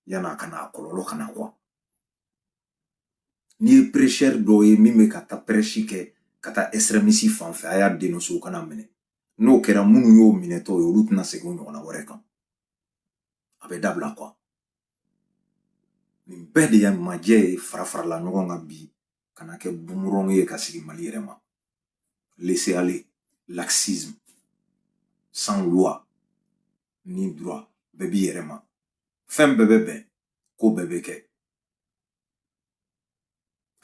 yann'a ka na a kɔlɔlɔ ka na quoi n'i ye prêcheur dɔ ye min bɛ ka taa prêche kɛ ka taa extrémisme fan fɛ a y'a dénoncer u ka n'a minɛ n'o kɛra minnu y'o minɛtɔ ye olu tɛna segin ɲɔgɔnna wɛrɛ kan a bɛ dabila quoi nin bɛɛ de ye majɛ ye fara farala ɲɔgɔn kan bi kana kɛ boomerang ye ka segin mali yɛrɛ ma laisser aller laxisme sans loi ni droit bɛɛ b'i yɛrɛ ma fɛn bɛɛ bɛ bɛn ko bɛɛ bɛ kɛ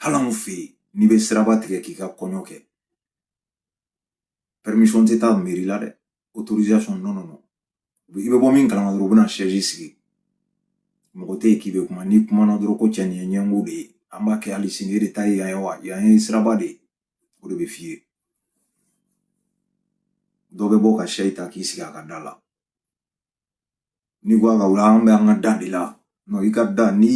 hali anw fɛ yen n'i bɛ siraba tigɛ k'i ka kɔɲɔ kɛ permission tɛ taa meri la dɛ autorisation non non non i bɛ bɔ min kalama dɔrɔn u bɛna sɛsi sigi mɔgɔ tɛ yen k'i bɛ kuma n'i kumana dɔrɔn ko cɛ nin ye ɲɛngo de ye an b'a kɛ hali sini e de ta ye yan ye wa yan ye siraba de ye o de bɛ f'i ye dɔ bɛ bɔ ka sɛsi ta k'i sigi a ka da la n'i ko a ka wuli an bɛ an ka da de la non i ka da ni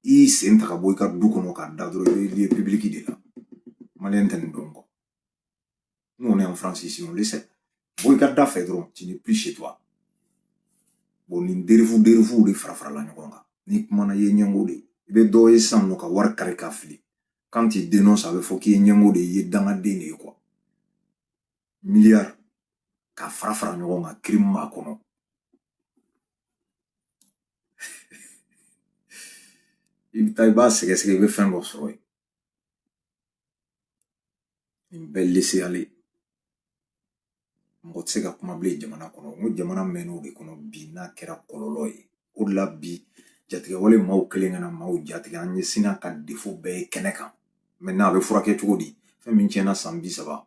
i sen ta ka bɔ i ka du kɔnɔ k'a da dɔrɔn i bɛ lieu public de la maliyɛn tɛ nin dɔn quoi nous on est en France ici on le sait bɔ i ka da fɛ dɔrɔn tu n'es plus chez toi bon nin dérive dérives de fara farala ɲɔgɔn kan n'i kumana i ye ɲɛngo de ye i bɛ dɔ ye sisan n'o ka wari kari k'a fili quand tu dénonces a bɛ fɔ k'i ye ɲɛngo de ye i ye dangaden de ye quoi miliyari ka fara fara ɲɔgɔn kan crime b'a kɔnɔ i bɛ taa i b'a sɛgɛsɛgɛ i bɛ fɛn dɔ sɔrɔ yen nin bɛɛ laisser aller mɔgɔ tɛ se ka kuma bilen jamana kɔnɔ n ko jamana mɛnn'o de kɔnɔ bi n'a kɛra kɔlɔlɔ ye o de la bi jatigɛwale maa kelen ka na maaw jatigɛ an ɲɛ sinna ka défaut bɛɛ ye kɛnɛ kan maintenant a bɛ furakɛ cogo di fɛn min tiɲɛna san bi saba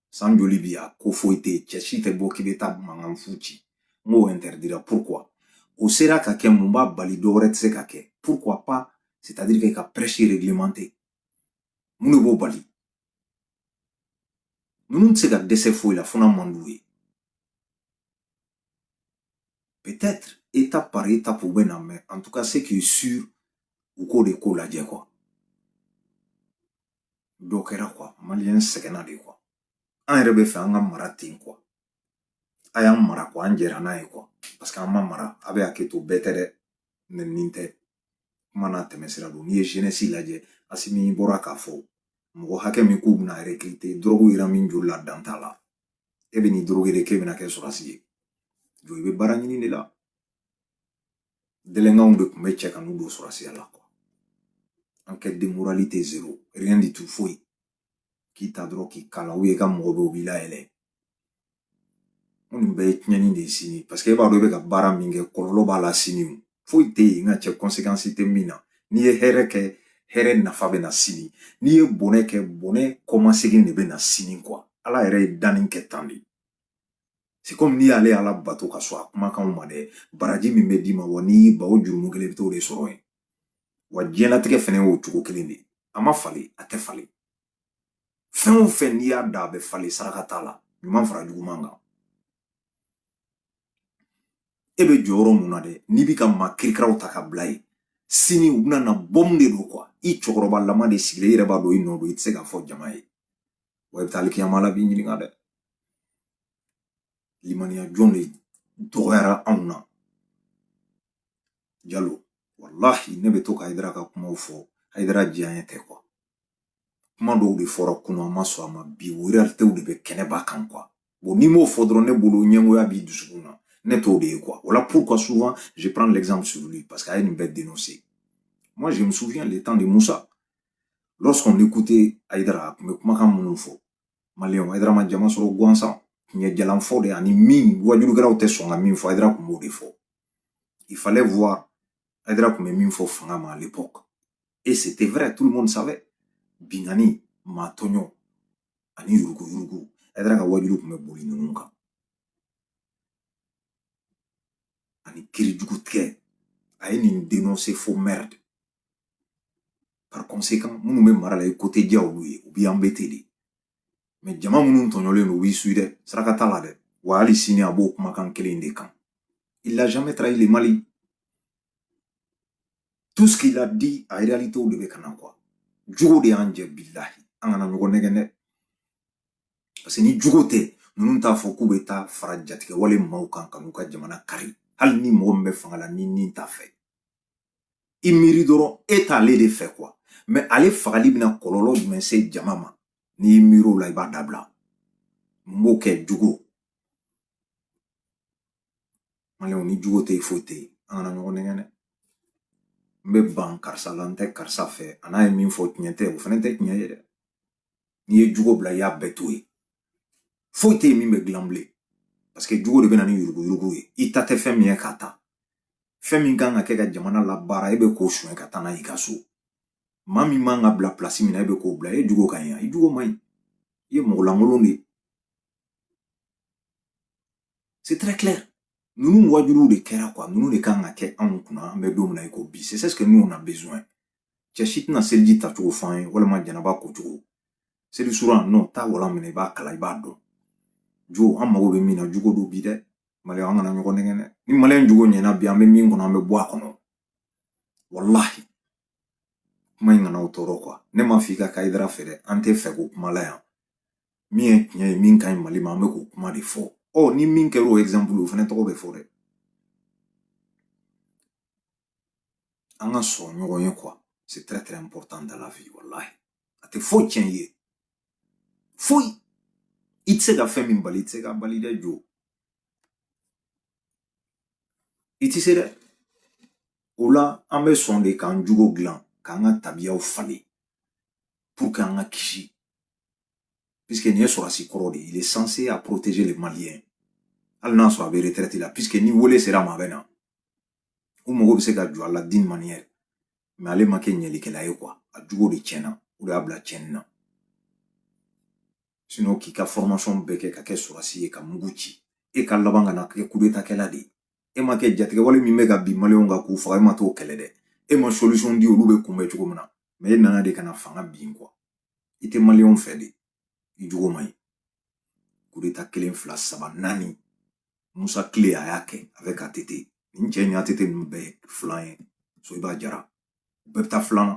san joli bi a ko foyi tɛ yen cɛ si tɛ bɔ k'i bɛ taa mankan fu ci n k'o interdira pourquoi o sera ka kɛ mun b'a bali dɔ wɛrɛ tɛ se ka kɛ pourquoi pas c'est à dire que ka prêche réglementer mun de b'o bali ninnu tɛ se ka dɛsɛ foyi la fo n'a man d'u ye peut-être étape par étape u bɛ na mais en tout cas ce qui est sûr u k'o de ko lajɛ quoi dɔ kɛra quoi maliyɛn sɛgɛnna de quoi an yɛrɛ b'a fɛ an ka mara ten quoi a y'an mara quoi an jɛra n'a ye quoi parce que an ma mara a bɛ hakɛ to bɛɛ tɛ dɛ nenini tɛ kuma n'a tɛmɛsira don n'i ye jeunesse lajɛ asimi bɔra k'a fɔ mɔgɔ hakɛ min k'u bɛna recruter dɔrɔgu yera min joli la dan t'a la e bɛ n'i dɔrɔgu de k'e bɛna kɛ sɔrɔsi ye jɔ i bɛ baara ɲini de la délinquants de tun bɛ cɛ ka n'u don sɔrɔsiya la quoi enquête de moralité zéro rien du tout foyi k'i ta dɔrɔn k'i kala ou i ka mɔgɔ bɛ u b'i layɛlɛn nin bɛɛ ye tiɲɛni de ye sini parce que e b'a dɔn e bɛ ka baara min kɛ kɔlɔlɔ b'a la sini o foyi tɛ yen n ka cɛ conséquence tɛ min na n'i ye hɛrɛ kɛ hɛrɛ nafa bɛ na sini n'i ye bɔnɛ kɛ bɔnɛ kɔmasegin de bɛ na sini quoi ala yɛrɛ ye danni kɛ tan de c'est comme n'i y'ale ala bato ka sɔn a kumakanw ma dɛ baraji min bɛ d'i ma wa n'i ban o jurumu kelen i bɛ t'o de sɔrɔ yen wa diɲɛlatigɛ fɛnɛ y'o cogo kelen de a ma falen a tɛ falen fɛn o fɛn n'i y'a dan a bɛ falen saraka t'a la ɲuman fara juguman kan e bɛ jɔyɔrɔ mun na dɛ n'i bɛ ka maa kirikaraw ta ka bila yen sini u bɛna na bɔmu de don quoi i cɛkɔrɔbalama de sigilen i yɛrɛ b'a dɔn i nɔ don i tɛ se k'a fɔ jama ye wa i bɛ taa alikiyama ala b'i ɲininka dɛ limaniya jɔn de dɔgɔyara anw na jalo walahi ne bɛ to ka hayidara ka kumaw fɔ hayidara diyaɲɛ tɛ quoi kuma dɔw de fɔra kunun an ma sɔn a ma bi o realitew de bɛ kɛnɛba kan quoi bon n'i m'o fɔ dɔrɔn ne bolo ɲɛngoya b'i dusukun na ne t'o de ye quoi voilà pourquoi souvent je prends l'exemple sur lui parce que a ye nin bɛɛ dénoncer moi je me souviens le temps de musa Lorsqu'on écoutait Aïdara, a tun bɛ kumakan minnu fɔ, Maliyɛnw, Aïdara ma jama sɔrɔ gansan, tiɲɛ jalanfɔ de ani min wajulukɛlaw tɛ sɔn ka min fɔ, Aïdara tun b'o de fɔ. Il fallait voir Aïdara tun bɛ min fɔ fanga ma à l'époque. Et c'était vrai, tout le monde savait. Binkanni, maa tɔɲɔ, ani yurugu yurugu, Aïdara ka wajulu tun bɛ boli ninnu kan. Ani kiri jugu tigɛ, a ye nin dénoncer fo merde. par conséquent minnu bɛ mara la i ko tɛ diya olu ye u b'i embêter de mais jama minnu tɔɲɔlen don u b'i suivre dɛ saraka t'a la dɛ wa hali sini a b'o kumakan kelen de kan il n'a jamais trahi le mali tout ce qu'il a dit a réalité de bɛ ka na quoi jogo de y'an jɛ bilahi an kana ɲɔgɔn nɛgɛn dɛ parce que ni jogo tɛ ninnu t'a fɔ k'u bɛ taa fara jatigɛwale maaw kan ka n'u ka jamana kari hali ni mɔgɔ min bɛ fanga la ni nin t'a fɛ i miiri dɔrɔn e t'ale de fɛ quoi mais ale fagali bɛna kɔlɔlɔ jumɛn se jama ma n'i y'i miiri o la i b'a dabila n b'o kɛ jogo maliyɛnw ni jogo tɛ yen foyi tɛ yen an kana ɲɔgɔn nɛgɛn dɛ n bɛ ban karisa la n tɛ karisa fɛ a n'a ye min fɔ tiɲɛ tɛ o fana tɛ tiɲɛ ye dɛ n'i ye jogo bila i y'a bɛɛ to yen foyi tɛ yen min bɛ dilan bilen parce que jogo de bɛ na ni yuruguyurugu ye i ta tɛ fɛn min ye k'a ta fɛn min kan ka kɛ ka jamana labaara e bɛ k'o suɲɛ ka taa n'a y'i ka so maa min man ka bila pilasi min na e bɛ k'o bila e jugo ka ɲi i jugo man ɲi i ye mɔgɔ lankolon de ye c'est très clair ninnu waajuliw de kɛra quoi ninnu de kan ka kɛ anw kunna an bɛ don min na i ko bi c'est ce que nous on a besoin cɛ si tɛna seliji tacogo fɔ an ye walima janaba kocogo seli suran non taa walan minɛ i b'a kalan i b'a dɔn jo an mago bɛ min na jugo don bi dɛ maliyɛn an kana ɲɔgɔn nɛgɛn dɛ ni maliyɛn jugo ɲɛna bi an bɛ min kɔnɔ an bɛ bɔ a kɔnɔ walahi kuma in kana o tɔɔrɔ kuwa ne m'a f'i ka hayidara fɛ dɛ an tɛ fɛko kuma la yan min ye tiɲɛ ye min ka ɲi mali ma an bɛ k'o kuma de fɔ ɔ ni min kɛra o exemple o fana tɔgɔ bɛ fɔ dɛ an ka sɔn ɲɔgɔn ye kuwa c'est très très important dans la vie wallahi a tɛ foyi tiɲɛ i ye foyi i tɛ se ka fɛn min bali i tɛ se ka bali dɛ jo i tɛ se dɛ o la an bɛ sɔn de k'an jogo dilan k'an ka tabiyaw falen pour que an ka kisi puisque nin ye sɔrɔsi kɔrɔ de ye il est censé à protéger les maliens hali n'a sɔrɔ a bɛ retraite la puisque ni wele sera a ma a bɛ na u mago bɛ se ka jɔ a la d'une manière mɛ ale ma kɛ ɲɛlikɛla ye kuwa a jugo de tiɲɛna o de y'a bila tiɲɛni na sinon k'i ka fɔrɔmasɔn bɛɛ kɛ ka kɛ sɔrɔsi ye ka mugu ci e ka laban ka na kɛ kudetakɛla de ye e ma kɛ jatigɛwale min bɛ ka bin maliyɛnw kan k'u faga e ma t'o kɛlɛ dɛ e ma solisɔn di olu bɛ kunbɛn cogo min na mɛ e nana de ka na fanga bin kuwa i tɛ maliyɛnw fɛ de i jugo man ɲi kudeta kelen fila saba naani musa tile a y'a kɛ avec att nin cɛ ni att ninnu bɛɛ filan ye soyiba jara u bɛɛ bɛ taa filan na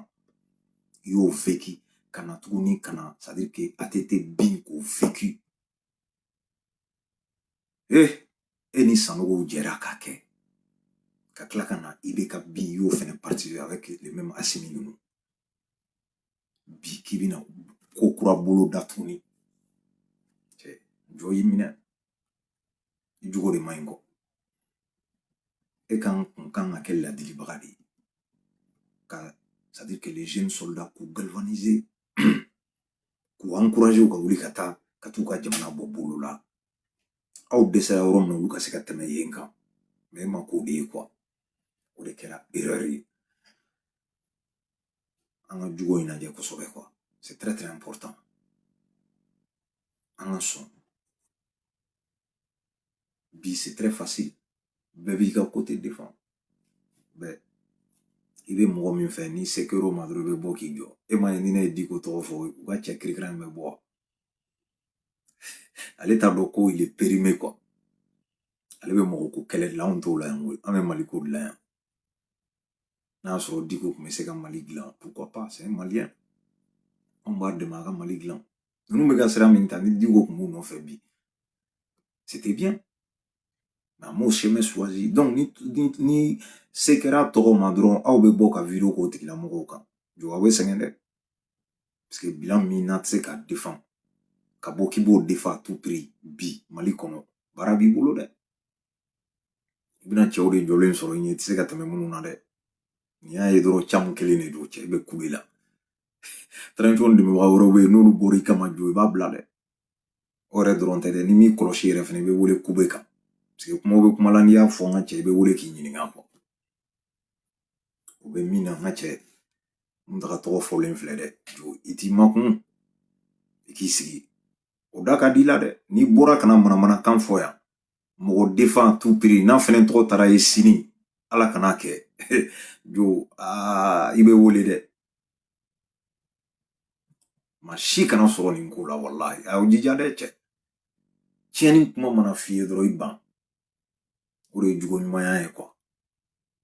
i y'o vécu ka na tuguni ka na c'est à dire que att bin k'o vécu e e ni sanogow jɛra k'a kɛ ka tila ka na ibk bin i y'o fɛnɛ participer avec les mêmes asimi ninnu bi k'i bɛna ko kura bolo da tuguni cɛ jɔ y'i minɛ i jogo de man ɲi kɔ e kan tun kan ka kɛ ladilibaga de ye ka c'est à dire que les jeunes soldats k'u galvaniser k'u encourager u ka wuli ka taa ka t'u ka jamana bɔ bolo la aw dɛsɛra yɔrɔ min na olu ka se ka tɛmɛ yen kan mɛ e ma k'o de ye kuwa o de kɛra erreur ye an ka jogo in lajɛ kosɛbɛ quoi c'est très très important an ka sɔn bi c'est très facile bɛɛ b'i ka côté défend bɛɛ i bɛ mɔgɔ min fɛ ni se kɛr'o ma dɔrɔn i bɛ bɔ k'i jɔ e m'a ye ni ne ye diko tɔgɔ fɔ u ka cɛ kirikira in bɛ bɔ ale t'a dɔn ko il est périmé quoi ale bɛ mɔgɔ ko kɛlɛ de la anw t'o la yan koyi an bɛ mali ko de la yan n'a y'a sɔrɔ diko tun bɛ se ka mali dilan pourquoi pas c'est un malien anw b'a dɛmɛ a ka mali dilan ninnu bɛ ka sira min ta ni diko tun b'u nɔfɛ bi c'était bien mais an m'o chemin choisi donc ni ni ni se kɛra tɔgɔ ma dɔrɔn aw bɛ bɔ ka vidéo k'o tigilamɔgɔw kan jɔ aw bɛ sɛgɛn dɛ parce que bilan min na tɛ se k'a défend ka bɔ k'i b'o défend à tout prix bi mali kɔnɔ baara b'i bolo dɛ i bɛna cɛw de jɔlen sɔrɔ i ɲɛ i tɛ se ka tɛmɛ minnu na dɛ n'i y'a ye dɔrɔn caman kelen de don cɛ i bɛ kulu i la transition dɛmɛbaga wɛrɛw bɛ yen n'olu bɔra i kama jo i b'a bila dɛ o yɛrɛ dɔrɔn tɛ dɛ n'i m'i kɔlɔsi yɛrɛ fana i bɛ wele kube kan parce que kumaw bɛ kuma la n'i y'a fɔ n ka cɛ i bɛ wele k'i ɲininka quoi o bɛ min na n ka cɛ muntaga tɔgɔ fɔlen filɛ dɛ jo i t'i makun i k'i sigi o da ka di i la dɛ n'i bɔra kana manamanakan fɔ yan mɔgɔ défend à tout prix n'a fɛnɛ tɔgɔ taara ye sini ala kan'a kɛ jo aa i bɛ wele dɛ maa si kana sɔrɔ nin ko la walahi a y'aw jija dɛ cɛ tiɲɛni kuma mana f'i ye dɔrɔn i ban o de ye jogo ɲumanya ye quoi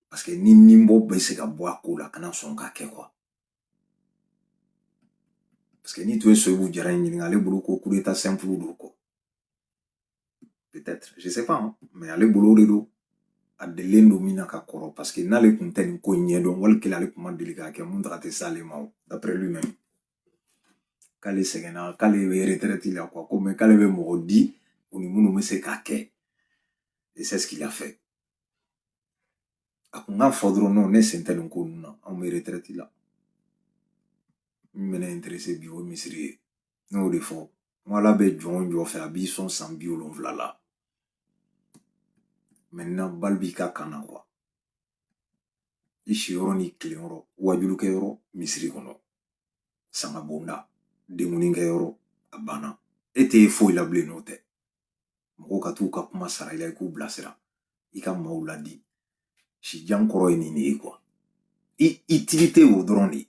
parce que n'i nin bɔ bɛ se ka bɔ a ko la kana sɔn k'a kɛ quoi parce que n'i tun ye soyibu jara in ɲininka ale bolo ko coup d'état simple don quoi peut-être je sais pas hein. mais ale bolo o de don a delilen don min na ka kɔrɔ parce que n'ale kun tɛ nin ko ɲɛ dɔn wali kelen ale kun ma deli k'a kɛ muntaga tɛ s'ale ma o d'après lui-même k'ale sɛgɛnna k'ale bɛ retraite la quoi ko mais k'ale bɛ mɔgɔ di u ni minnu bɛ se k'a kɛ et c'est ce qu'il a fait a kun k'a fɔ dɔrɔn non ne sen tɛ nin ko ninnu na anw bɛ retraite la min bɛ ne intéressé bi o ye misiri ye ne y'o de fɔ Ko ala bɛ jɔn o jɔn fɛ a b'i sɔn san biwolonwula la maintenant balle b'i ka camp na quoi i siyɔrɔ ni tilenyɔrɔ wajulukɛyɔrɔ misiri kɔnɔ sanga bonda denkundikɛyɔrɔ a banna e tɛ foyi la bilen n'o tɛ mɔgɔw ka t'u ka kuma sara i la i k'u bilasira i ka maaw ladi sijan kɔrɔ ye nin de ye quoi i utilité o dɔrɔn de ye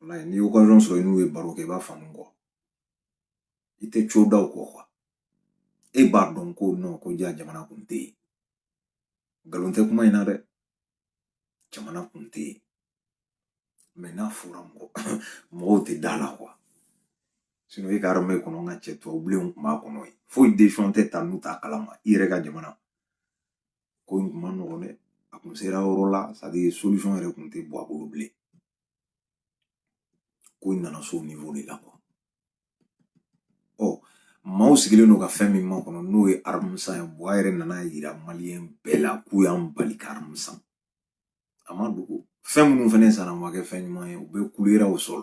walayi n'i ye occasion sɔrɔ i n'u ye baro kɛ i b'a faamu quoi i tɛ co da u kɔ quoi e b'a dɔn ko non ko ja jamana kun tɛ yen nkalon tɛ kuma in na dɛ jamana kun tɛ yen mais n'a fɔra mɔgɔ mɔgɔw tɛ da la quoi sinon e ka armée kɔnɔ n ka cɛ tubabubilenw kun b'a kɔnɔ yen foyi décision tɛ ta n'u t'a kalama i yɛrɛ ka jamana ko in kun ma nɔgɔn dɛ a kun sera yɔrɔ la c'est-à-dire solution yɛrɛ kun tɛ bɔ a bolo bilen ko in nana s'o niveau de la ɔ maaw sigilen don ka fɛn min makɔnɔ n'o ye arme san ye Buwa yɛrɛ nan'a yira maliyɛn bɛɛ la k'u y'an bali ka arme san a ma dogo fɛn minnu fana sanna ma kɛ fɛn ɲuman ye u bɛɛ clouéra au sol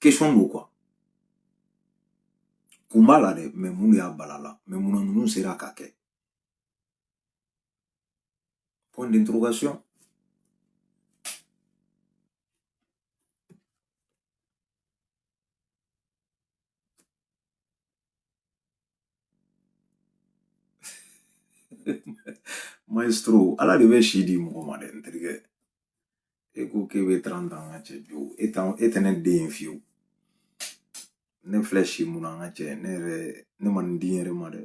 question don quoi kun b'a la dɛ mais mun de y'a bala la mais munna ninnu sera k'a kɛ point d'interrogation maestro ala de bɛ si di mɔgɔ ma dɛ n terikɛ e ko k'e bɛ trente ans n ka cɛ bi e tɛ e tɛ ne den ye fiyewu ne filɛ si mun na n ka cɛ ne yɛrɛ ne ma nin di n yɛrɛ ma dɛ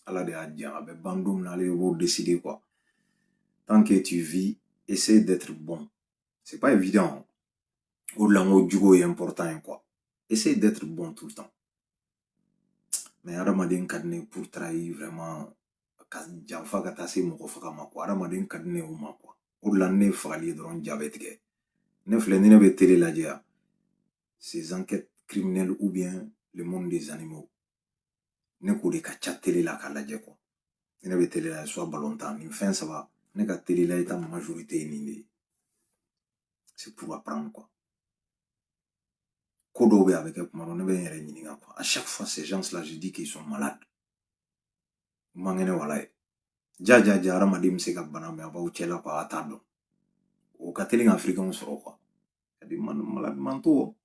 ala de y'a di a bɛ ban don min na ale b'o décider quoi tant que tu vis essaie d'être bon c'est pas évident o de la n ko jogo ye important ye quoi essaie d'être bon tout le temps mais hadamaden ka di ne pour trahir vraiment ka janfa ka taa se mɔgɔ faga ma quoi hadamaden ka di ne o ma quoi o de la ne fagali ye dɔrɔn ja bɛ tigɛ ne filɛ ni ne bɛ télé lajɛ yan ces enquêtes criminelles ou bien le monde des animaux ne k'o de ka ca télé la k'a lajɛ quoi ne bɛ télé la soit balontan nin fɛn saba ne ka télé la i ta majorité ye nin de ye c'est pour apprendre quoi ko dɔw bɛ a bɛ kɛ kuma dɔ ne bɛ n yɛrɛ ɲininka quoi à chaque fois ces gens là je dis qu'ils sont malades u man kɛnɛ walayi ja ja ja hadamaden bɛ se ka bana mais a b'aw cɛla quoi a t'a dɔn o ka teli ka africainw sɔrɔ quoi cas de ma malades mentaux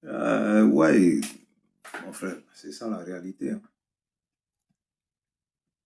euh, ouais mon frère c'est ça la réalité hein.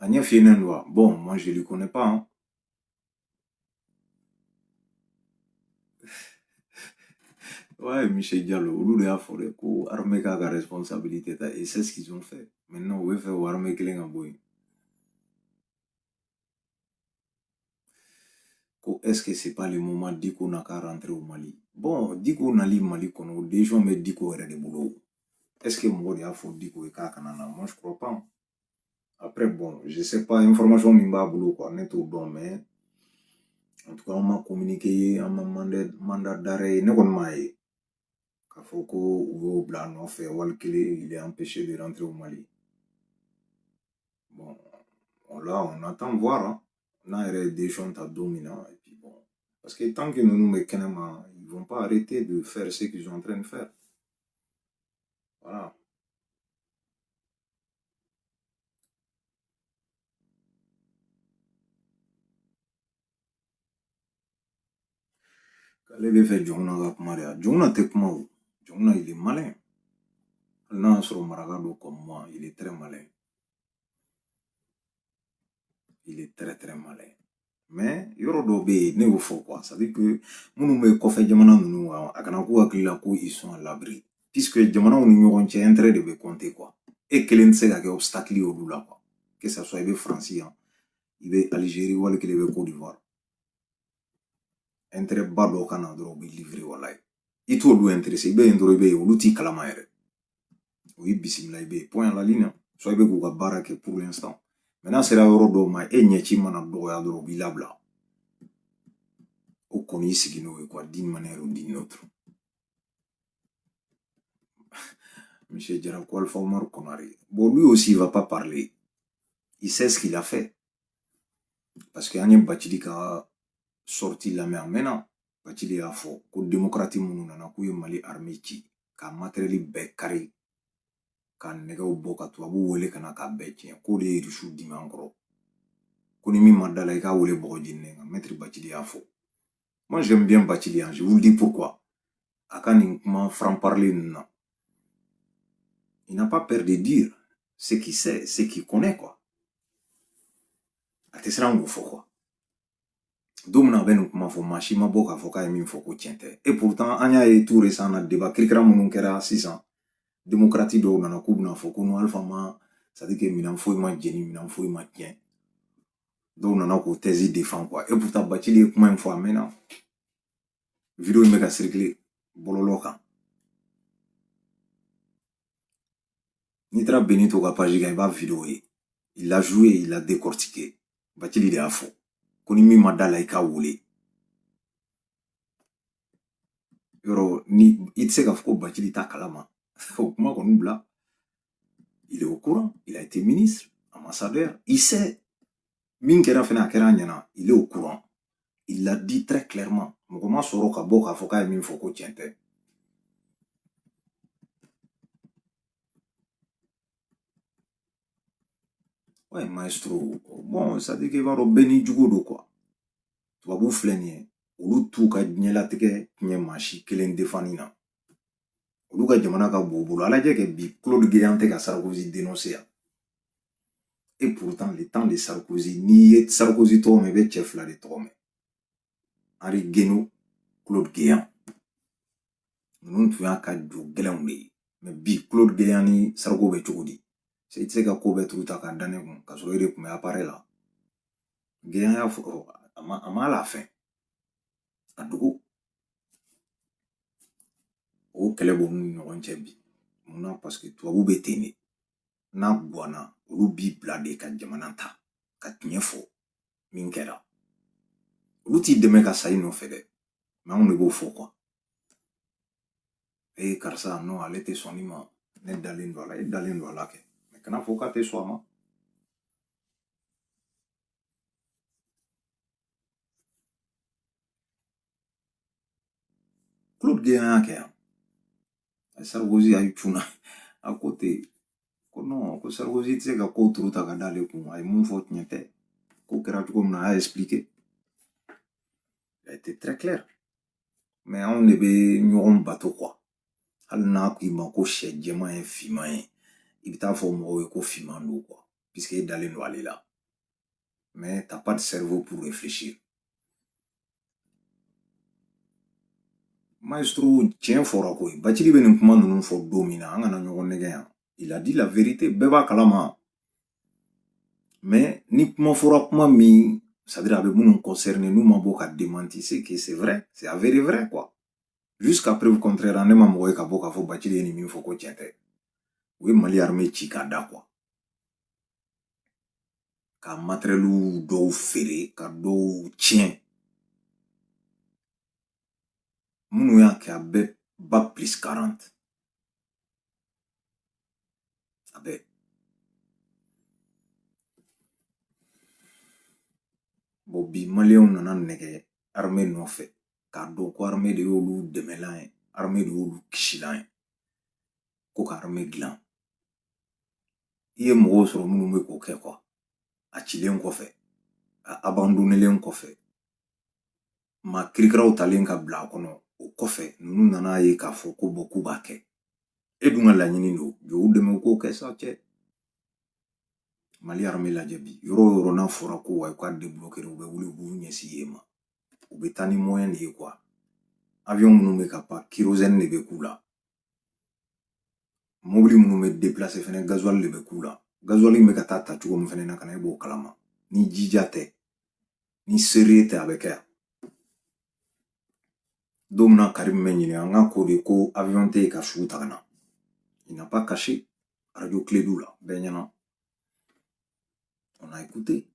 Agnès Yenenwa, bon, moi je ne le connais pas. Hein. Ouais, Michel Diallo, olu de y'a fɔ dɛ ko armée k'a ka responsabilité ta et c'est ce qu'ils ont fait. Maintenant, u b'a fɛ o armée kelen ka bɔ yen. Ko est-ce que c'est pas le moment Diko n'a qu'à rentrer au Mali? Bon, Diko nali Mali kɔnɔ o décision bɛ Diko yɛrɛ de bolo. Est-ce que mɔgɔ de y'a fɔ Diko ye k'a kana na? Moi je crois pas. Après, bon, je sais pas, information min b'a bolo quoi, ne t'o dɔn mais en tout cas, an ma communiqué, an ma mandat, mandat d'arrêt ye, ne kɔni m'a ye. K'a fɔ ko u y'o bila a nɔfɛ wali kelen, il est empêché de rentrer au Mali. Bon, là, on attend voir, hein. n'a yɛrɛ ye décision ta don min na, et puis bon, parce que tant que ninnu bɛ kɛnɛma, ils vont pas arrêter de faire ce qu'ils sont en train de faire. Voilà. k'ale b'a fɛ jɔnkunda ka kuma de a jɔnkunda tɛ kuma o jɔnkunda il est malin hali n'a y'a sɔrɔ maraka don comme moi il est très malin il est très très malin yɔrɔ dɔ bɛ yen ne y'o fɔ quoi c'est à dire que minnu bɛ kɔfɛ jamana ninnu a kana k'u hakili la ko ils sont à l'abri puisque jamanaw ni ɲɔgɔn cɛ intérêt de bɛ compter quoi e kelen tɛ se ka kɛ obstacle ye olu la quoi que ça soit i bɛ faransi yan i bɛ alizeri wali kelen i bɛ cote d'ivoire intérêt ba dɔ ka na dɔrɔn u b'i livrer walayi i t'olu intéressé i bɛ yen dɔrɔn i bɛ yen olu t'i kalama yɛrɛ u y'i bisimila i bɛ yen point à la ligne soit i bɛ k'u ka baara kɛ pour l'instant mais n'a sera yɔrɔ dɔ ma e ɲɛci mana dɔgɔya dɔrɔn u b'i labila o kɔni y'i sigi n'o ye quoi d'une manière ou d'une autre monsieur Jara Alpha Omar Konare bon lui aussi il va pas parler il sait ce qu'il a fait parce que an ye Bacili ka sortie lamɛn a mɛnna Bacili y'a fɔ ko démocrate minnu nana k'u ye Mali armée ci ka matériel bɛɛ kari ka nɛgɛw bɔ ka tubabu wele ka na k'a bɛɛ tiɲɛ k'o de ye irisiw dimi an kɔrɔ ko ni min ma da a la i k'a wele bɔgɔ jeninen nka maître bacili y'a fɔ moi j'aime bien bacili je vous le dis pourquoi a ka nin kuma franc parler ninnu na il n'a pas peur de dire ce qu'il sait ce qu'il connaît quoi a tɛ siran k'o fɔ quoi don min na a bɛ nin kuma fɔ maa si ma bɔ k'a fɔ k'a ye min fɔ ko tiɲɛ tɛ et pourtant an y'a ye tout récent na débat kirikara minnu kɛra sisan démocrate dɔw nana k'u bɛna fɔ ko non alpha ma c'est à dire que minɛn foyi ma jeni minɛn foyi ma tiɲɛ dɔw nana k'o thèse défend quoi et pourtant bacili ye kuma in fɔ a mɛnna video in bɛ ka circuler bɔlɔlɔ kan n'i taara benito ka page kan i b'a video ye il l'a joué il l'a décortiqué bacili de y'a fɔ ko ni min ma da a la i k'a wele yɔrɔ ni i tɛ se k'a fɔ ko bacili t'a kalama o kuma kɔni bila il est au courant il a été ministre ambassadeur il sait min kɛra fɛnɛ a kɛra a ɲɛna il est au courant il l'a dit très clairement mɔgɔ ma sɔrɔ ka bɔ k'a fɔ k'a ye min fɔ ko tiɲɛ tɛ ouais maestro bon c'est-à-dire que i b'a dɔn bɛɛ n'i jogo don quoi tubabu filɛ nin ye olu t'u ka diɲɛlatigɛ tiɲɛ maa si kelen defani na olu ka jamana ka bon u bolo a lajɛ kɛ bi claude guéant tɛ ka sarkozy dénoncer yan et pourtant le temps de sarkozy n'i ye sarkozy tɔgɔ mɛn i bɛ cɛ fila de tɔgɔ mɛn henri guaino claude guéant ninnu tun y'a ka jo gɛlɛnw de ye mais bi claude guéant ni sarko bɛ cogo di se i tɛ se ka ko bɛɛ turu ta k'a da ne kun k'a sɔrɔ e de tun bɛ appareil la guéant y'a fɔ a ma a ma à la fin a dogo o kɛlɛ b'u ni ɲɔgɔn cɛ bi munna parce que tubabu bɛ ten de n'a gwanna olu b'i bila de ka jamana ta ka tiɲɛ fɔ min kɛra olu t'i dɛmɛ ka sa i nɔfɛ dɛ mais anw de b'o fɔ quoi ee karisa non ale tɛ sɔn nin ma ne dalen don a la e dalen don a la kɛ mais kana fɔ k'a tɛ sɔn a ma Claude Guéant y'a kɛ yan a Sarkozy a cunna a ko ten ko non ko Sarkozy tɛ se ka ko turu ta ka d'ale kun a ye mun fɔ tiɲɛ tɛ ko kɛra cogo min na a y'a expliqué a été très clair mais anw de bɛ ɲɔgɔn bato quoi hali n'a k'i ma ko sɛ jɛman ye finman ye i bɛ taa fɔ mɔgɔw ye ko finman don quoi puisque e dalen don ale la mais t'as pas de cerveau pour réfléchir. Maestro, tiɲɛ fɔra koyi bacili bɛ nin kuma ninnu fɔ don min na an kana ɲɔgɔn nɛgɛ yan il a dit la vérité bɛɛ b'a kalama mais ni kuma fɔra kuma min c'est-à-dire a bɛ minnu concerné n'u ma bɔ ka démenti c'est que c'est vrai c'est avéré vrai quoi jusqu'à preuve contraire ne ma mɔgɔ ye ka bɔ k'a fɔ bacili ye nin min fɔ ko tiɲɛ tɛ u ye mali armée ci k'a da quoi ka matériel dɔw feere ka dɔw tiɲɛ minnu y'a kɛ a bɛ bac plus 40 a bɛ bɔn bi maliyɛnw nana nɛgɛ armée nɔfɛ k'a dɔn ko armée de y'olu dɛmɛlan ye armée de y'olu kisilan ye ko ka armée dilan i ye mɔgɔw sɔrɔ minnu bɛ k'o kɛ quoi a cilen kɔfɛ a abandonnelen kɔfɛ maa kirikiraw talen ka bila a kɔnɔ o kɔfɛ ninnu nana ye k'a fɔ ko bon k'u b'a kɛ e dun ka laɲini don jɔ u dɛmɛ u k'o kɛ sa cɛ mali armée lajɛ bi yɔrɔ o yɔrɔ n'a fɔra ko wa u ka débloquer u bɛ wuli u b'u ɲɛsin yen ma u bɛ taa ni moyen de ye quoi avion minnu bɛ ka pan kérosène de bɛ k'u la mobili minnu bɛ déplacer fɛnɛ gasoil de bɛ k'u la gasoil bɛ ka taa ta cogo min fɛnɛ na ka na e b'o kalama ni jija tɛ ni seere tɛ a bɛ kɛ yan don min na karim bɛ ɲini an ka ko de ko avion tɛ yen ka suw ta ka na il n'a pas caché radio kledu la bɛɛ ɲɛna on a écouté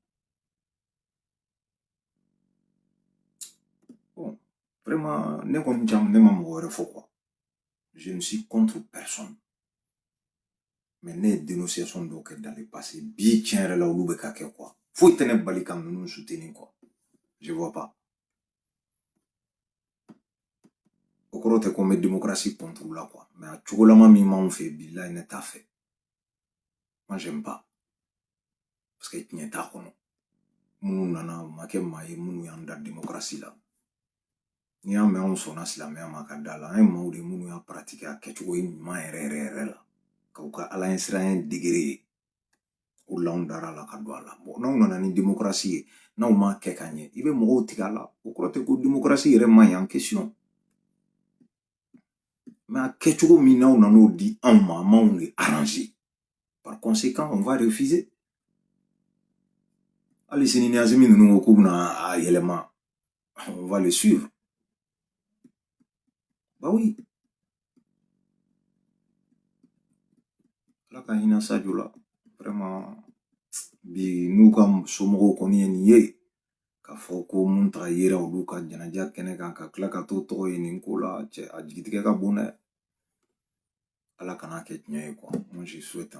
bon vraiment ne kɔni jam ne ma mɔgɔ wɛrɛ fɔ quoi je ne suis contre personne mais ne ye dénonciation dɔw kɛ dans le passé bi tiɲɛ yɛrɛ la olu bɛ ka kɛ quoi foyi tɛ ne bali ka ninnu soutenir quoi je vois pas o kɔrɔ tɛ ko n bɛ démocratie contre la quoi mais a cogolama min b'anw fɛ bilayi ne t'a fɛ moi j'aime pas parce que tiɲɛ t'a kɔnɔ minnu nana u ma kɛ maa ye minnu y'an da démocratie la n'i y'a mɛn anw sɔnna silamɛya ma ka da la an ye maaw de minnu y'a pratiquer a kɛcogo ɲuman yɛrɛ yɛrɛ yɛrɛ la k'u ka ala ɲɛsiranya degré ye o la anw dara a la ka don a la bon n'aw nana ni démocratie ye n'aw m'a kɛ ka ɲɛ i bɛ mɔgɔw tigɛ a la o kɔrɔ tɛ ko démocratie yɛrɛ man ɲi en question mais a kɛcogo min n'aw nan'o di anw ma a m'anw de arranger par conséquent on va refuser hali sini ni asimi ninnu ko k'u bɛna a yɛlɛma on va les suivre. Bah oui. ala ka hinɛ sajo la vraiment, bi n'u ka somɔgɔw kɔni ye nin ye k'a fɔ ko mun taga yera olu ka jɛnɛja kɛnɛ kan ka tila ka t'o tɔgɔ ye nin ko la cɛ a jigitigɛ ka bon dɛ ala kana kɛ tiɲɛ ye quoi moi je souhaite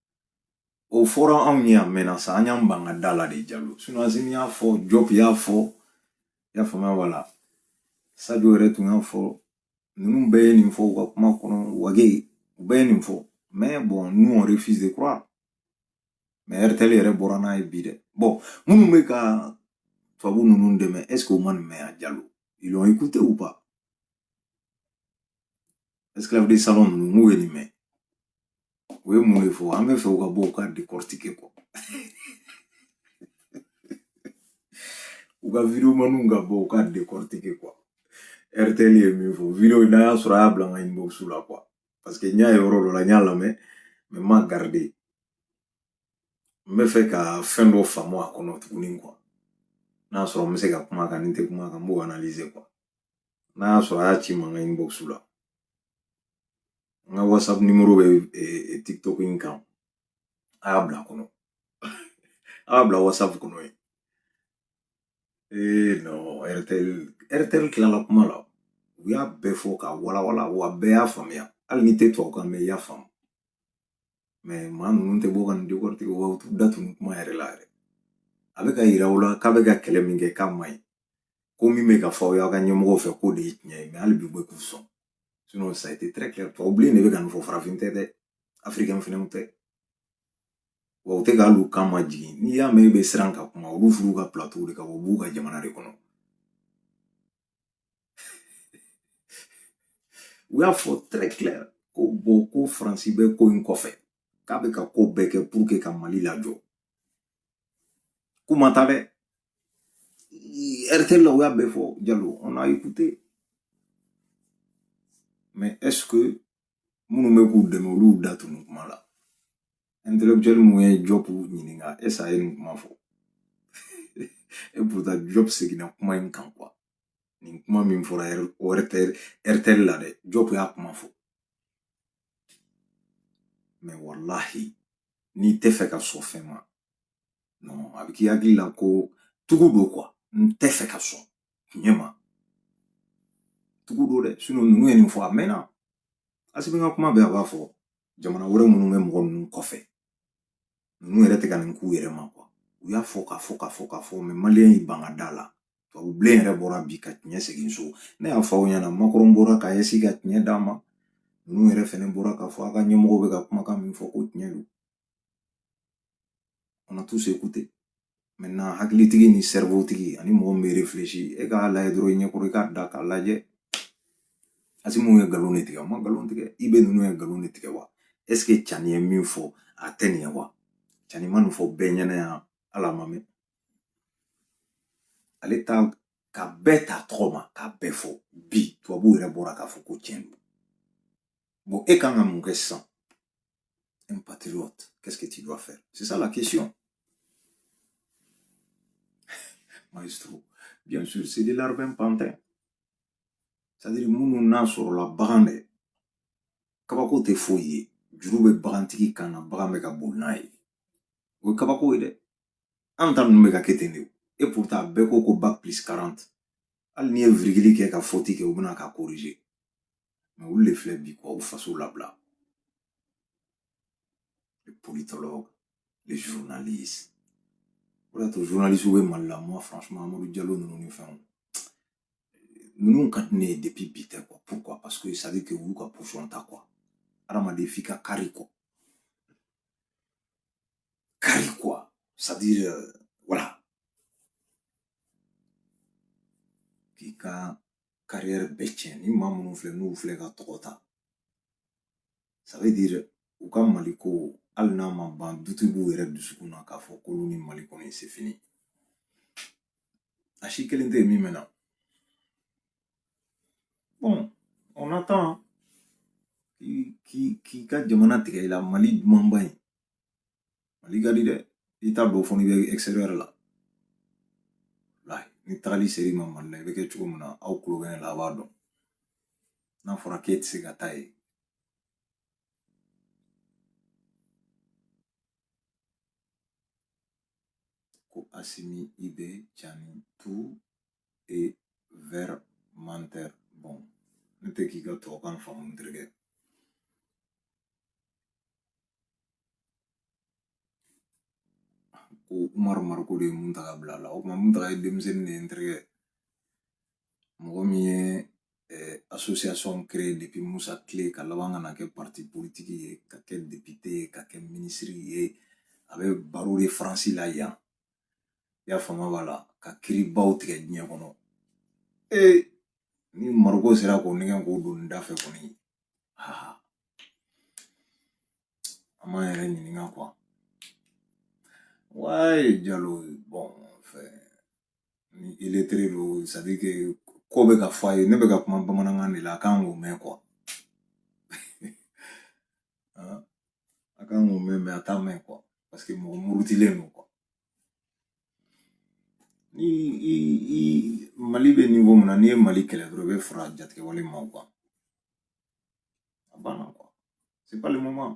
o fɔra anw ye a mɛnna sa an y'an ban ka da la de jalo sinon asimi y'a fɔ jɔp y'a fɔ i y'a faamuya wala sajo yɛrɛ tun y'a fɔ ninnu bɛɛ ye nin fɔ u ka kuma kɔnɔ wage u bɛɛ ye nin fɔ mais bon nous on refuse de croire mais rtl yɛrɛ bɔra n'a ye bi dɛ bon minnu bɛ ka tubabu ninnu dɛmɛ est ce que u ma nin mɛn a jalo ils l'ont écouté ou pas esclave de salon ninnu n'u ye nin mɛn u ye mun de fɔ an bɛ fɛ u ka bɔ u ka décortiquer quoi u ka videomaniw ka bɔ u ka décortiquer quoi rtl ye min fɔ video n'a y'a sɔrɔ a y'a bila n ka inbox la quoi parce que n y'a ye yɔrɔ dɔ la n y'a lamɛn mais n m'a garder n bɛ fɛ ka fɛn dɔ faamu a kɔnɔ tuguni quoi n'a sɔrɔ n bɛ se ka kuma kan ni n tɛ kuma kan n b'o analyser quoi n'a y'a sɔrɔ a y'a ci ma n ka inbox la n ka whatsapp numéro bɛ tiktok in kan a y'a bila a kɔnɔ a y'a bila whatsapp kɔnɔ yen ee non rtl rtl tilala kuma la u y'a bɛɛ fɔ k'a walawala wa bɛɛ y'a faamuya hali n'i tɛ tubabukan mɛn i y'a faamu mais maa ninnu tɛ bɔ ka nin décortiquer wa u t'u da tu nin kuma yɛrɛ la yɛrɛ a bɛ k'a yira u la k'a bɛ ka kɛlɛ min kɛ k'a man ɲi ko min bɛ ka fɔ aw y'aw ka ɲɛmɔgɔw fɛ k'o de ye tiɲɛ ye mais hali bi u bɛ k'u sɔn sinon ça a été très clair tubabu bilen de bɛ ka nin fɔ farafin tɛ dɛ africain fɛnɛw tɛ wa u tɛ ka hali u kan ma jigin n'i y'a mɛn e bɛ siran ka kuma olu furu ka plateau de kan u b'u ka jamana de kɔnɔ u y'a fɔ très clair ko bon ko faransi bɛ ko in kɔfɛ k'a bɛ ka ko bɛɛ kɛ pour que ka mali lajɔ kuma ta dɛ rtl la u y'a bɛɛ fɔ jalo on a écouté mais est ce que minnu bɛ k'u dɛmɛ olu y'u da tu nin kuma la intellectuel mun ye job ɲininka est ce a ye nin kuma fɔ et pourtant job seginna kuma in kan quoi nin kuma min fɔra rtl rtl la dɛ job y'a kuma fɔ mais wallahi n'i tɛ fɛ ka sɔn fɛn ma non a bɛ k'i hakili la ko tugu don quoi n tɛ fɛ ka sɔn tiɲɛ ma tugu don dɛ sinon ninnu ye nin fɔ a mɛnna asimi ka kuma bɛɛ a b'a fɔ jamana wɛrɛ minnu bɛ mɔgɔ ninnu kɔfɛ ninnu yɛrɛ tɛ ka nin k'u yɛrɛ ma quoi u y'a fɔ k'a fɔ k'a fɔ k'a fɔ mais malien y'i ban ka da la tubabu bilen yɛrɛ bɔra bi ka tiɲɛ segin so ne y'a fɔ aw ɲɛna macron bɔra ka ɲɛsin ka tiɲɛ d'a ma ninnu yɛrɛ fɛnɛ bɔra k'a fɔ a ka ɲɛmɔgɔw bɛ ka kumakan min fɔ ko tiɲɛ don on a tous écouté maintenant hakilitigi ni cerveau tigi ani mɔgɔ min bɛ réfléchir e k'a lajɛ dɔrɔn i ɲɛkɔrɔ i k'a da k'a lajɛ asimi ye nkalon de tigɛ a ma nkalon tigɛ ib ninnu ye nkalon de tigɛ wa est ce que cani ye min fɔ a tɛ nin ye wa cani ma nin fɔ bɛɛ ɲɛna yan ala ma mɛn ale tan ka bɛɛ ta tɔgɔ ma k'a bɛɛ fɔ bi tubabu yɛrɛ bɔra k'a fɔ ko tiɲɛ don bon e kan ka mun kɛ sisan un patriote qu'est-ce que tu dois faire c'est ça la question maestro bien sûr c'est des larbins pantins c'est-à-dire minnu n'a sɔrɔla bagan de kabako tɛ foyi ye juru bɛ bagantigi kan na bagan bɛ ka boli n'a ye o ye kabako ye dɛ an ta ninnu bɛ ka kɛ ten de et pourtant bɛɛ ko ko bac plus 40 hali n'i ye virgili kɛ ka foti kɛ u bɛ na k'a corriger mais olu de filɛ bi k'aw faso labila les politologues les journalistes o de y'a to journalisiw bɛ mali la moi franchement amadu jalo ninnu ni fɛnw ninnu ka di ne ye depuis bi tɛ quoi pourquoi parce que ça veut dire que u y'u ka position ta quoi hadamaden f'i ka kari quoi Kari quoi. C'est-à-dire, euh, voilà. K'i ka carrière bɛɛ tiɲɛ ni maa minnu filɛ n'u filɛ ka tɔgɔ ta ça veut dire u ka mali ko hali n'a ma ban duti b'u yɛrɛ dusukun na k'a fɔ k'olu ni mali kɔni c'est fini a si kelen tɛ yen min mɛna bon on attend k'i ka jamana tigɛ i la mali dumanba in mali ka di dɛ i t'a dɔn fo n'i bɛ extérieur la ni tagali ser'i ma mali la i bɛ kɛ cogo min na aw kulo bɛ ne la a b'a dɔn n'a fɔra k'e tɛ se ka taa yen ko asimi IB Tiani tu es vrai menteur. Bon, ne tɛ k'i ka tubabukan faamu n terikɛ. Ko Umaru Mariko de ye Muntaga bila a la. O tuma Muntaga ye denmisɛnnin de ye n terikɛ. Mɔgɔ min ye eh, association créée depuis Moussa kile ka laban ka na kɛ parti politique ye, ka kɛ député ye, ka kɛ ministre ye. A bɛ barreau de France la yan. i y'a faamu b'a la ka kiiribaw tigɛ diɲɛ kɔnɔ ee ni mariko sera k'o nɛgɛn k'o don nin da fɛ kɔni aa an m'an yɛrɛ ɲininka quoi ouais jalo bon enfin ni illettré don c'est-à-dire que ko bɛ ka fɔ a ye ne bɛ ka kuma bamanankan de la a kan k'o mɛn quoi a kan k'o mɛn mais a t'a mɛn quoi parce que mɔgɔ murutilen don quoi ni i i mali bɛ niveau min na n'i ye mali kɛlɛ dɔrɔn i bɛ fara jatigɛwale maaw kan a banna quoi c'est pas le moment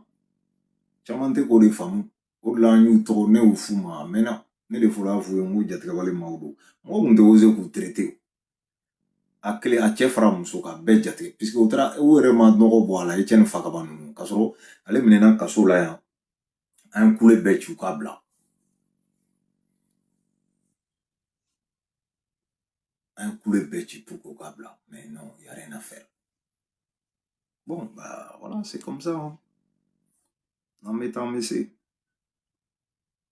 caman tɛ k'o de faamu o de la an y'u tɔgɔ ne y'o f'u ma a mɛnna ne de fɔra f'u ye n ko jatigɛwale maaw don mɔgɔ tun tɛ oser k'u traiter a kelen a cɛ fara muso kan bɛɛ jate puisque u taara u yɛrɛ ma nɔgɔ bɔ a la i cɛ ni fakaba ninnu k'a sɔrɔ ale minɛna kaso la yan an ye kule bɛɛ ci u k'a bila an ye kule bɛɛ ci pour que u k'a bila mais non y a rien à faire bon bah voilà c'est comme ça hein. an bɛ taa an bɛ se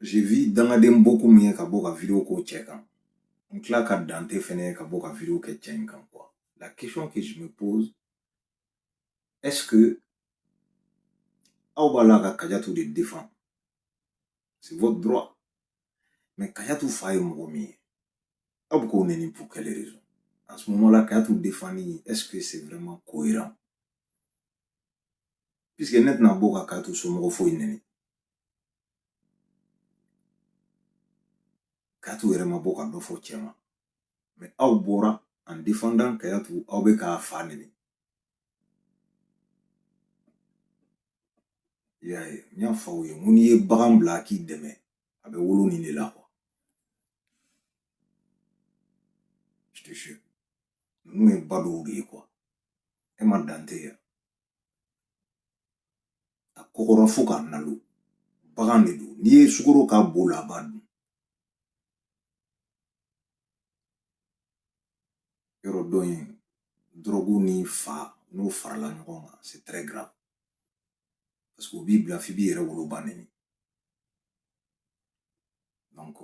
j'ai vu dangaden beaucoup min ye ka bɔ ka video k'o cɛ kan n tila ka dante fɛnɛ ye ka bɔ ka video kɛ cɛ in kan quoi la question que je me pose est ce que aw b'a la ka kajatu de défendre c'est votre droit mais kajatu fa ye mɔgɔ min ye aw bɛ k'o nɛni pour quelle raison en ce moment là kajatu défendre est ce que c'est vraiment cohérent puisque ne tɛna bɔ ka kajatu somɔgɔ foyi nɛni kajatu yɛrɛ ma bɔ ka dɔ fɔ cɛ ma mais aw bɔra en défendant kajatu aw bɛ k'a fa nɛni i y'a ye n y'a fɔ aw ye n ko n'i ye bagan bila k'i dɛmɛ a bɛ wolo nin de la quoi ninnu ye ba dɔw de ye quoi e ma dante ye a kɔgɔra fo k'a nalo bagan de don n'i ye sukoro k'a bo la a b'a dun yɔrɔ dɔ in dɔrɔgu ni fa n'o farala ɲɔgɔn kan c'est très grave parce que o b'i bila f'i b'i yɛrɛ woloba nɛni donc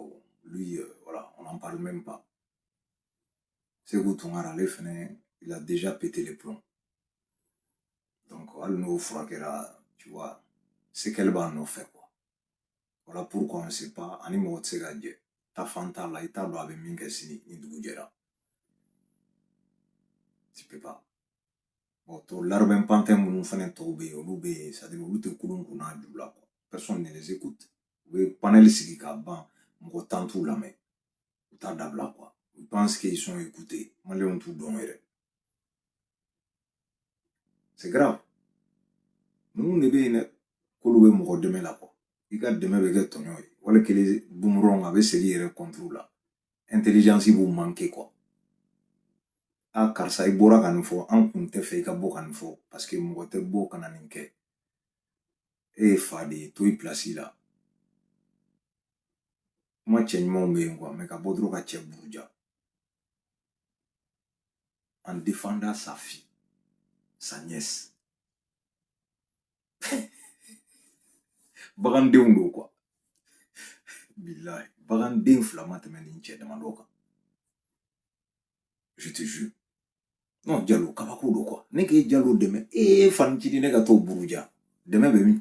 lui euh, voilà on n'en parle même pas Seku Tunkara ale fɛnɛ il a déjà pété les plombs donc hali n'o furakɛra tu vois séquelle b'a nɔfɛ quoi voilà pourquoi on ne sait pas ani mɔgɔ tɛ se ka jɛ taafan t'a la i t'a dɔn a bɛ min kɛ sini ni dugu jɛra tu peux pas bon tɔ larbin pantin minnu fɛnɛ tɔw bɛ yen olu bɛ yen c'est à dire olu tɛ kulun kun n'a ju la quoi personne ne les écoute u bɛ panel sigi ka ban mɔgɔ tan t'u lamɛn u t'a dabila quoi u pense qu'ils sont écoutés maliyɛnw t'u dɔn yɛrɛ c'est grave ninnu de bɛ yen dɛ k'olu bɛ mɔgɔ dɛmɛ la quoi i ka dɛmɛ bɛ kɛ tɔɲɔ ye wali kelen boomerang a bɛ segin yɛrɛ contre la intelligence b'u manquer quoi a ah, karisa i bɔra ka nin fɔ an kun tɛ fɛ i ka bɔ ka nin fɔ parce que mɔgɔ tɛ bɔ ka na nin kɛ e ye fa de ye to i place la kuma cɛ ɲumanw bɛ yen quoi mais ka bɔ dɔrɔn ka cɛ buruja en défendant sa fille sa nièce bagandenw don quoi bilayi baganden fila ma tɛmɛ nin cɛ damadɔ kan je te jure non Diallo kabako don quoi ne k'e Diallo dɛmɛ e ye fanicidi ne ka t'o buruja dɛmɛ bɛ min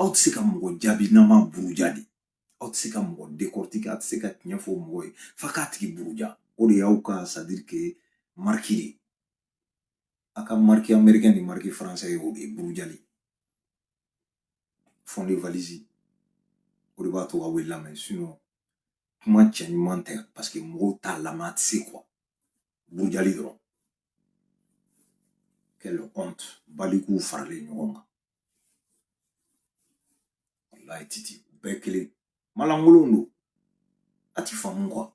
aw tɛ se ka mɔgɔ jaabi n'aw m'a buruja de aw tɛ se ka mɔgɔ décortiquer aw tɛ se ka tiɲɛ fɔ mɔgɔ ye f'a k'a tigi buruja o de y'aw ka c'est-à-dire que marque de a ka marque américain ni marque français ye o de ye burujali fond de valise o de b'a to aw bɛ lamɛn sinon kuma cɛ ɲuman tɛ parce que mɔgɔw t'a lamɛn a tɛ se quoi burujali dɔrɔn quelle honte balikuw faralen ɲɔgɔn kan walayi titi u bɛɛ kelen malankolonw don a ti faamu quoi.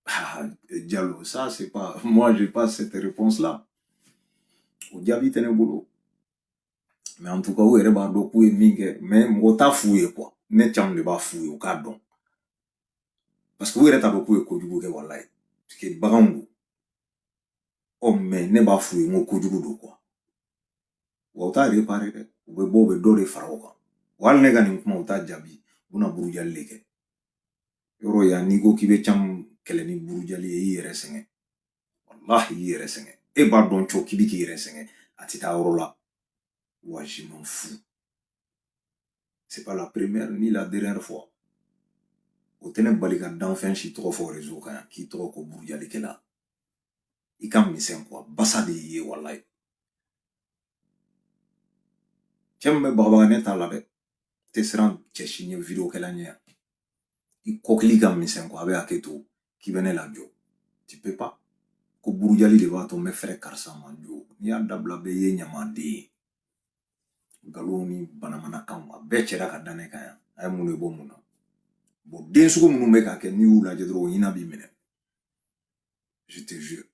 Ah, Diallo, ça c'est pas, moi j'ai pas cette réponse là. O jaabi tɛ ne bolo. Mais en tout cas, u yɛrɛ b'a dɔn k'u ye min kɛ, mais mɔgɔ t'a f'u ye quoi. Ne caman de b'a f'u ye, u k'a dɔn. Parce que u yɛrɛ t'a dɔn k'u ye kojugu kɛ walayi. Parce que baganw don. ɔ mais ne b'a f'u ye n ko kojugu don quoi wa u t'a réparer dɛ u bɛ bɔ u bɛ dɔ de fara o kan wa hali ne ka nin kuma u t'a jaabi u bɛna burujali de kɛ yɔrɔ yan n'i ko k'i bɛ can kɛlɛ ni burujali ye i yɛrɛ sɛgɛn walahi i yɛrɛ sɛgɛn e b'a dɔn cɔ k'i bɛ k'i yɛrɛ sɛgɛn a tɛ taa yɔrɔ la wa je m'en fous C'est pas la première ni la dernière fois. O tɛ ne bali ka danfɛn si tɔgɔ fɔ réseau kan yan k'i tɔgɔ ko burujalikɛla i ka misɛn quoi basa de y'i ye walayi cɛ min bɛ bagabaga ne t'a la dɛ tɛ siran cɛ si ɲɛ videokɛla ɲɛ yan i kɔkili ka misɛn quoi a bɛ hakɛ to k'i bɛ ne lajɔ tu peux pas ko burujali de b'a to n bɛ fɛrɛ karisa ma jo n'i y'a dabila bɛɛ ye ɲamaden ye nkalon ni banamanakan a bɛɛ cɛra ka da ne kan yan a ye mun de bɔ mun na bon den sugu minnu bɛ k'a kɛ n'i y'u lajɛ dɔrɔn o hinɛ b'i minɛ je te jure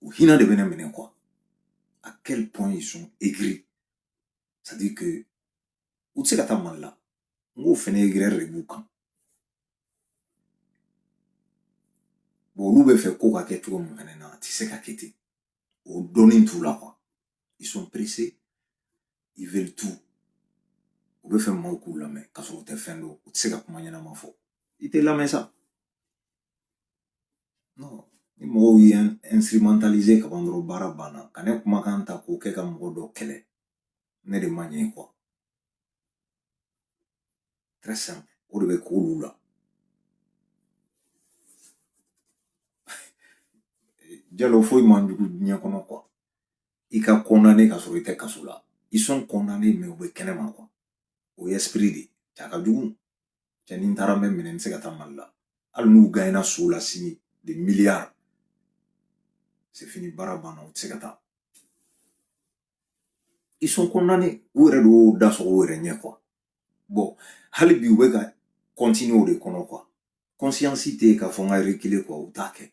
o hinɛ de bɛ ne minɛ quoi à quel point ils sont aigris c'est à dire que u tɛ se ka taa mali la n k'o fɛnɛ aigreur de b'u kan bon olu bɛ fɛ ko ka kɛ cogo min fɛnɛ na a tɛ se ka kɛ ten o dɔnni t'u la quoi ils sont pressés ils veulent tout u bɛ fɛ maaw k'u lamɛn k'a sɔrɔ u tɛ fɛn dɔn u tɛ se ka kuma ɲɛnama fɔ i tɛ lamɛn sa non ni mɔgɔw ye instrumentaliser ka ban dɔrɔn baara banna ka ne kumakan ta k'o kɛ ka mɔgɔ dɔ kɛlɛ ne de ma ɲɛ quoi très simple o de bɛ k'olu la jalo foyi man jugu diɲɛ kɔnɔ quoi i ka condamné ka sɔrɔ i tɛ kaso la ils sont condamnés mais u bɛ kɛnɛ ma quoi o ye esprit de cɛ a ka jugu cɛ ni n taara n bɛ minɛ n tɛ se ka taa mali la hali n'u gaɲɛna so la sini des milliards c'est fini baara banna u tɛ se ka taa ils sont condamnés u yɛrɛ de y'o da sɔgɔ u yɛrɛ ɲɛ quoi bon hali bi u bɛ ka continuer o de kɔnɔ quoi conscience tɛ yen k'a fɔ n ka reculer quoi u t'a kɛ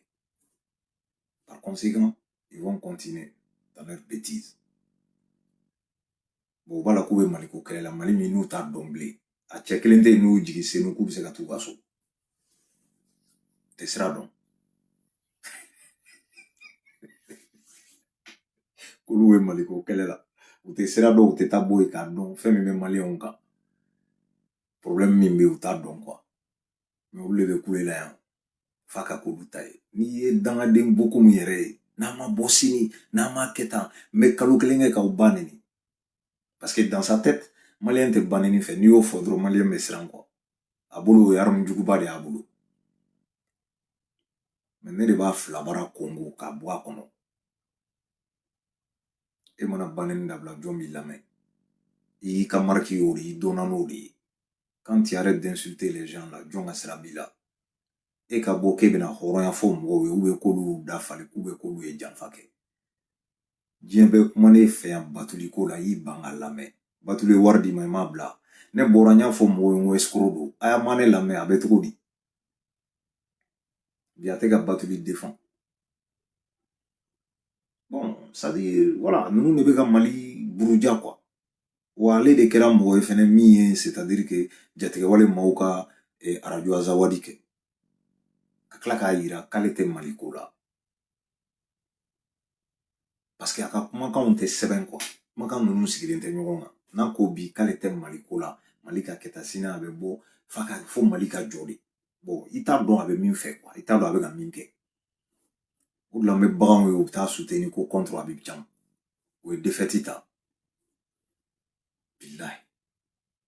Par conséquent, ils vont continuer dans leur bêtise. Bon, u b'a la k'u bɛ maliko kɛlɛ la mali min n'u t'a dɔn bilen a cɛ kelen tɛ yen n'u jigi senu k'u bɛ se ka t'u ka so u tɛ sira dɔn k'olu bɛ maliko kɛlɛ la u tɛ sira dɔn u tɛ taa bɔ yen k'a dɔn fɛn min bɛ maliyɛnw kan problème min bɛ yen u t'a dɔn quoi mais olu le bɛ kule la yan f'a ka k'olu ta ye n'i ye dangaden boko min yɛrɛ ye n'a ma bɔ sini n'a ma kɛ tan n bɛ kalo kelen kɛ k'aw ba neni parce que dans sa tête maliyɛn tɛ baneni fɛ n'i y'o fɔ dɔrɔn maliyɛn bɛ siran quoi a bolo o ye arme juguba de y'a bolo mais ne de b'a filabara kongo k'a bɔ a kɔnɔ e mana baneni dabila jɔn b'i lamɛn i y'i ka marque y'o de ye i donna n'o de ye quand tu arrêtes d'insulter les gens là jɔn ka sira b'i la e ka bɔ k'e bɛna hɔrɔnya fɔ mɔgɔw ye ou bien k'olu dafali ou bien k'olu ye janfa kɛ diɲɛ bɛɛ kuman'e fɛ yan batuli ko la i y'i ban k'a lamɛn batuli ye wari d'i ma i m'a bila ne bɔra n y'a fɔ mɔgɔw ye n ko escroc don a y'a ma ne lamɛn a bɛ cogo di bi a tɛ ka batuli défendre bon c'est à dire voilà ninnu de bɛ ka mali buruja quoi wa ale de kɛra mɔgɔ ye fɛnɛ min ye c'est à dire que jatigɛwale maaw ka eh, arajo azawadi kɛ ka tila k'a yira k'ale tɛ mali ko la parce que a ka kumakanw tɛ sɛbɛn quoi kumakan ninnu sigilen tɛ ɲɔgɔn kan n'a ko bi k'ale tɛ mali ko la mali ka kɛta sini a bɛ bɔ k'a fɔ mali ka jɔ de bon i t'a dɔn a bɛ min fɛ quoi i t'a dɔn a bɛ ka min kɛ o de la n bɛ baganw ye u bɛ taa soutenir ko contre abidjan u ye défaite ta bilayi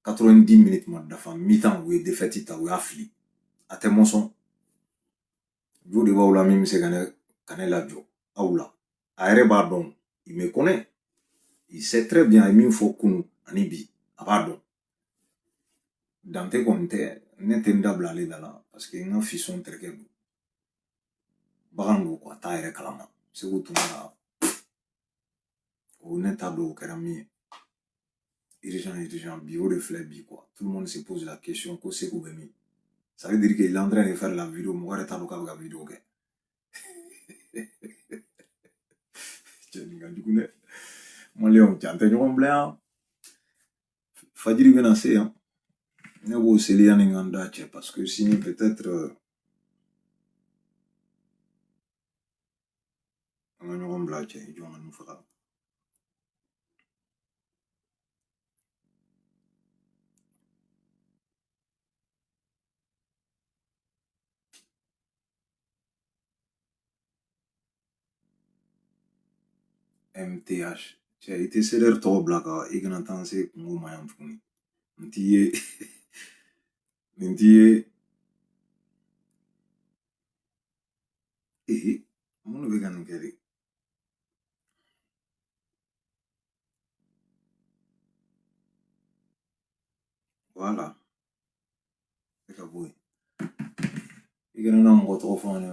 90 minutes ma dafa mi-temps u ye défaite ta u y'a fili a tɛ mɔsɔn jɔn de b'aw la min bɛ se ka ne lajɔ aw la a yɛrɛ b'a dɔn il me connaît il sait très bien a ye min fɔ kunu ani bi a b'a dɔn dante kɔni tɛ ne tɛ n dabila ale da la parce que n ka fisɔn terikɛ don bagan don quoi a t'a yɛrɛ kalama segu tuma la o ne t'a dɔn o kɛra min ye urgent urgent bi o de filɛ bi quoi tout le monde se pose la question ko seko bɛ min ça veut dire que il est en train de faire la vidéo mɔgɔ yɛrɛ t'a dɔn k'a bɛ ka vidéo kɛ cɛ nin ka jugu dɛ maliyɛnw cɛ an tɛ ɲɔgɔn bila yan fajiri bɛna se yan ne b'o seli yanni n ka n da cɛ parce que sini peut-être an ka ɲɔgɔn bila cɛ jɔn ka nin faga MTH cɛ i tɛ CDR tɔgɔ bila ka i kana taa se kungo ma yan tuguni nin t'i ye nin t'i ye ee mun bɛ ka nin kɛ de voilà e ka bɔ yen i kana na mɔgɔ tɔgɔ fɔ an ye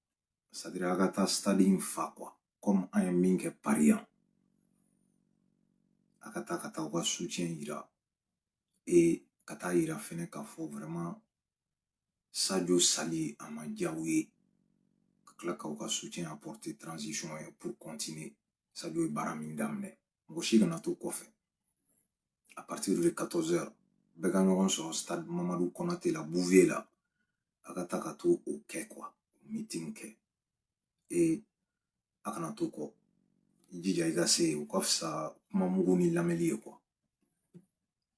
c'est-à-dire a ka taa stade in fa quoi comme an ye min kɛ paris yan a ka taa ka taa u ka soutien yira et ka taa a yira fɛnɛ k'a fɔ vraiment sajo sali a ma diya u ye ka tila k'u ka soutien apporter transition ye pour continuer sajo ye baara min daminɛ mɔgɔ si kana to kɔfɛ à partir de 14 heures bɛɛ ka ɲɔgɔn sɔrɔ stade mamadu kɔnate la bouvier la a ka taa ka taa o kɛ quoi meeting kɛ ee a kana to kɔ i jija i ka se yen o ka fisa kuma mugu nin lamɛli ye quoi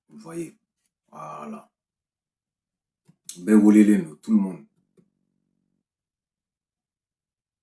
vous voyez voilà bɛɛ welelen don tout le monde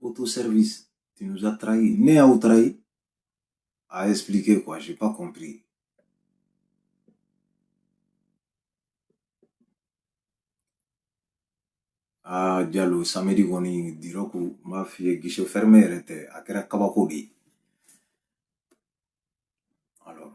Auto service. Tu nous as trahis. Ne y'aw trahi a expliquer quoi, j'ai pas compris. Ah, Diallo, samedi kɔni diyara ko n b'a f'i ye guichet fermé yɛrɛ tɛ a kɛra kabako de ye alors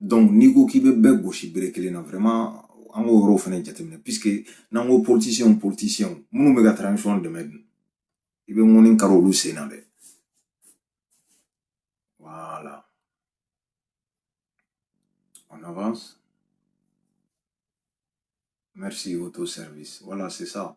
donc n'i ko k'i bɛ bɛɛ gosi bere kelen na vraiment an k'o yɔrɔw fɛnɛ jateminɛ puisque n'an ko politisiyɛnw politisiyɛnw minnu bɛ ka transition dɛmɛ dun i bɛ ŋɔni kari olu sen na dɛ voilà on avance merci auto service voilà c'est ça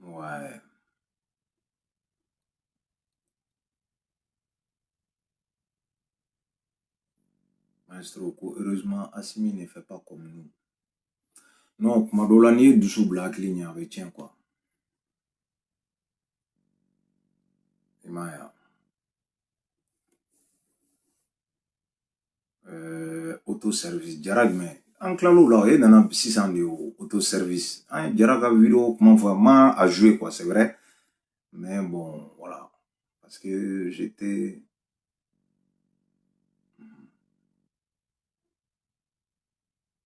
Ouais. Maestro, heureusement, Assimi ne fait pas comme nous. Non, kuma dɔ la n'i ye dusu bila hakili ɲɛ a bɛ tiɲɛ quoi i m'a ye wa Eh, auto service jara jumɛn an tilal'o la e nana sisan de auto service an ye jara ka video kuma fɔ an m'a jouer quoi c'est vrai mais bon voilà parce que j'étais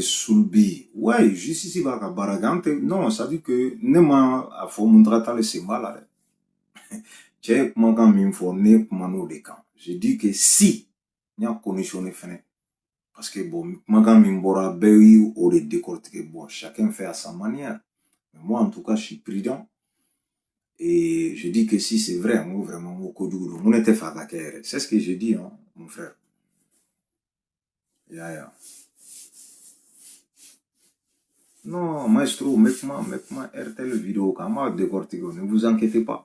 surpris ouais justice b'a ka baara kɛ an tɛ non c'est-à-dire que ne ma a fɔ Mountaga Tall sen b'a la dɛ cɛ ye kumakan min fɔ ne kuman'o de kan je dis que si n y'a conditionner fɛnɛ parce que bon kumakan min bɔra bɛɛ y'o de décortiquer bon chacun fait à sa manière mais moi en tout cas je suis prudent et je dis que si c'est vrai n ko vraiment n ko kojugu don n ko ne t'a fɛ a ka kɛ yɛrɛ c'est ce que je dis hein, mon frère y'a ye Non, maestro, mets-moi, mets-moi RTL vidéo, qu'on va décortiquer, ne vous inquiétez pas.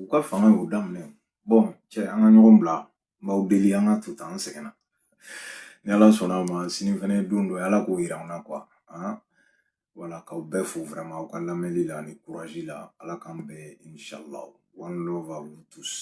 u ka fanga y'u daminɛ bon cɛ an ka ɲɔgɔn bila n b'aw deli an k'a to tan an sɛgɛnna ni ala sɔnn'a ma sini fɛnɛ don dɔ ala k'o yira an na quoi hein voilà k'aw bɛɛ fo vraiment aw ka lamɛnli la ani courage la ala k'an bɛn inshallah one love à vous tous